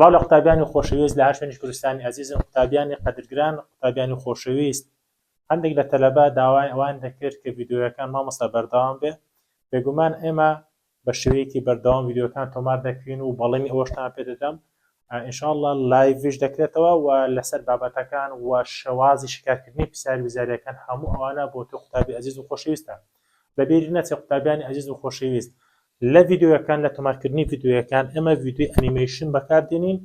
سڵاو لە قوتابیانی خۆشەویست لە هەشوێنی کوردستانی ئازیزم قوتابیانی قەدرگران قوتابیانی خۆشەویست هەندێک لە تەلەبا داوای ئەوان دەکرد کە یددیوەکان مامۆستا بەردەوام بێ بێگومان ئێمە بە شێوەیەکی بەردەوام یددیوەکان تۆمار دەکەین و بەڵێنی ئەوەشتان پێدەدەم ان شاء اللە لایڤیش دەکرێتەوە و لەسەر بابەتەکان و شێوازی شیکارکردنی پرسیار وزاریەکان هەموو ئەوانە بۆ تۆ قوتابی ئەزیز و خۆشەویستە بەبیری نەچێ قوتابیانی ئەزیز و خۆشەویست لە ڤیدیۆیەکان لە تۆمارکردنی ڤیدیۆیەکان ئێمە ڤیدیۆی ئەنیمەیشن بەکاردێنین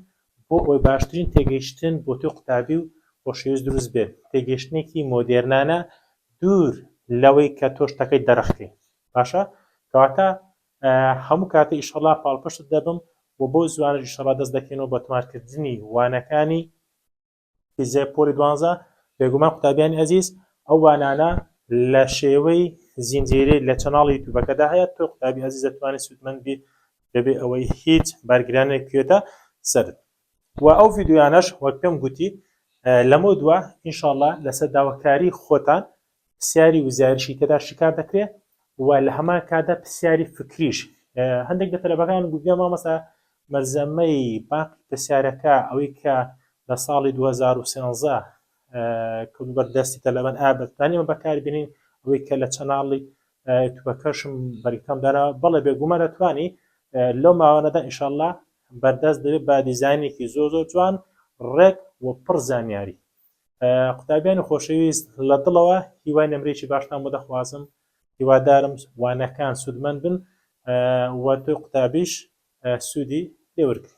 بۆ ئەوەی باشترین تێگەیشتن بۆ تۆی قوتابی و خۆشەویست دروست بێت تێگەیشتنێکی مۆدێرنانە دوور لەوەی کە تۆ شتەکەی دەرەخکەی باشە کەواتە هەموو کاتە ئیشەڵا پاڵپشتت دەبم و بەو زوانەش ئیشەڵا دەست دەکەینەوە بە تۆمار کردنی وانەکانی فیزیای پۆلی دوانزە بێگومان قوتابیانی ئەزیز ئەو وانانە لە شێوەی زینجیری لە چەناڵی یوتیوبەکەدا هەیە تۆ قوتابی ئەزیز دەتوانێت سوودمەند بیت بەبێ ئەوەی هیچ بارگرانێک کوێتە سەرت و ئەو ڤیددیویانەش وەک پێم گوتی لەمە دووە ئینشاءله لەسەر داواکاری خۆتان پرسیاری وزایرشی تێدا شیکار دەکرێ و لە هەمان کادا پرسیاری فکریش هەندێک لە تەلەبەکان گوگە مامەسا مەلزەمەی باقی پرسیارەکە ئەوەی کە لە ساڵی 2013 کە بەردەستی تەلەبەن ئابەتانی ئەمە بەکاربیێنین ئەوەی کە لە چەناڵی توبەکەشم بەریتام دانا بەڵێ بێگومان دەتوانی لەو ماوانەدا ئیشله بەردەست دەبێت بە دیزانێکی زۆر زۆر جوان ڕێک و پڕ زانیاری قوتابیانی خۆشەویست لە دڵەوە هیوای نمرەیەکی باشتان بۆ دەخوازم هیوادارم وانەکان سوودمەند بن و تۆی قوتابیش سوودی لێورگری